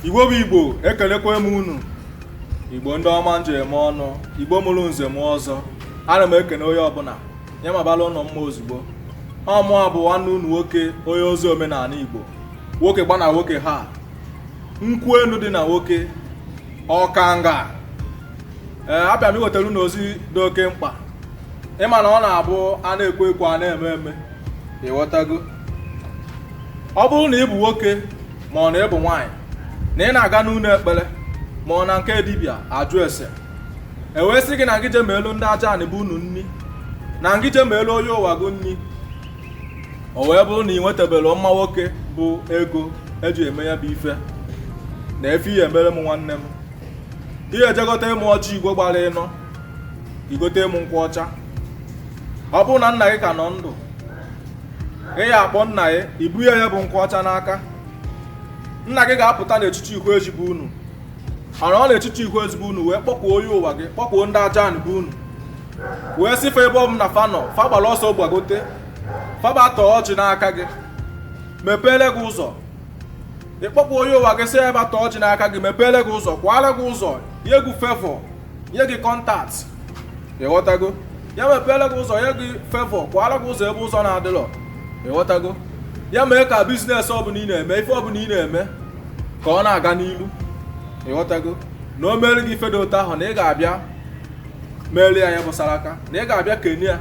igbo bụ igbo ekelekwa m unu igbo ndị ọma m ji eme ọnụ igbo mụrụ nze mụọ ọzọ ana m ekene onye ọbụna ya mabala unu mma ozugbo ọ mụwa bụ nwanne unu nwoke onye ozi omenana igbo nwoke gba na nwoke ha nkwụ enu dị na nwoke ọkanga ee abịa m iwetara unu ozi dị oke mkpa ị ma na ọ na-abụ a na-ekwu ekwu a na-eme eme ịghọtago ọ bụrụ na ị bụ nwoke ma ọ na ị bụ nwaanyị na ị na-aga n'ụnọ ekpere ma ọ na nke dibịa ajụ ese e wee sị gị na ngị je meelu ndị aja anị be unu nni na ngị je meelu onye ụwa gị nni o wee bụrụ na ị nwetabelọ mma nwoke bụ ego e ji eme ya bụ ife nee ife ị ya emere m nwanne m ị ya eje gotere mụ ọjị igbo gbara ịnọ i gotere mụ nkwụ ọcha ọ bụrụ na nna gị ka nọ ndụ ị ya akpọ nna gị i bu ya ya bụ nkwụ ọcha n'aka nna gị ga-apụta n'echichi ihu ezi be unu nọrọ n'echichi ihu ezi be unu wee kpọkuo onye ụwa gị kpọkuo ndị aja anị be unu wee sị fa ebe ọ bụna fa nọ fa gbara ọsọ gbagote fa bịa taa ọjị n'aka gị mepeele gị ụzọ ị kpọkuo onye ụwa gị sị ya bịa taa ọjị n'aka gị mepeele gị ụzọ kwaara gị ụzọ nye gị fevọ nye gị kọntaktị ịghọtago ya mepeele gị ụzọ nye gị fevọ kwaara gị ụzọ ebe ụzọ na-adịrọ ịghọtago ya mee ka biznes ọbụna ị na-eme ife ọbụna ị na-eme ka ọ na-aga n'iru ịghọtago na o meere gị ife dị otu ahụ na ị ga-abịa meere ya ya gbasara aka na ị ga-abịa kene ya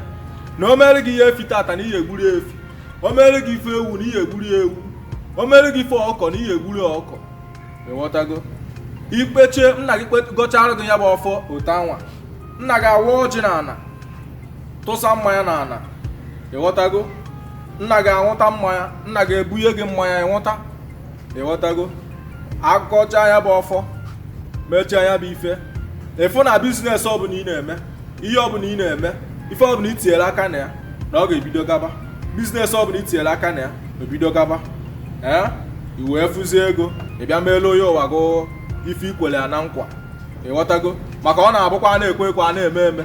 na o meere gị ife efi tata na ị ya egburu ya efi o meere gị ife ewu na ị ya egburu ya ewu o meere gị ife ọkụkọ na ị ya egburu ya ọkụkọ ịghọtago i kpechaa nna gị gọchaara gị ya bụ ọfọ otu anwa nna gị awa ọjị na ana tụsa mmanya na ana ịghọtago nna gị anwụta mmanya nna gị ebunye gị mmanya ị nwụta ịghọtago a gọchaa ya bụ ọfọ mechaa ya bụ ife ị fụ na biznes ọ bụna ị na-eme ihe ọbụna ị na-eme ife ọbụna i tinyere aka na ya na ọ ga-ebido gaba biznes ọbụna i tinyere aka na ya ebido gaba ee i wee fụzie ego ị bịa meelu onye ụwa gị ife i kwere ya na nkwa ịghọtago maka ọ na-abụkwa a na-ekwu ekwu a na-eme eme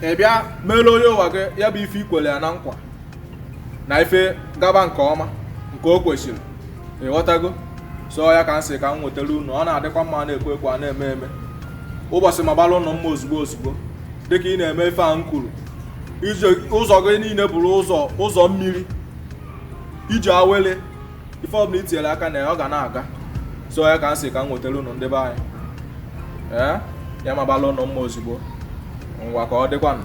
ị bịa meelu onye ụwa gị ya bụ ife i kwere ya na nkwa na ife gaba nke ọma nke o kwesịrị ịghọtago so ya ka m sị ka m wetara unu ọ na-adịkwa mma a na-ekwu ekwu a na-eme eme ụbọsị magbara unu mma ozugbo ozugbo dịka ị na-eme ife a m kwuru ụzọ gị niine bụrụ ụzọ mmiri ije awele ife ọbụna i tinyere aka na ya ọ ga na-aga so ya ka m sị ka m wetara unu ndị be anyị ee ya magbara unu mma ozugbo ngwa ka ọ dịkwanụ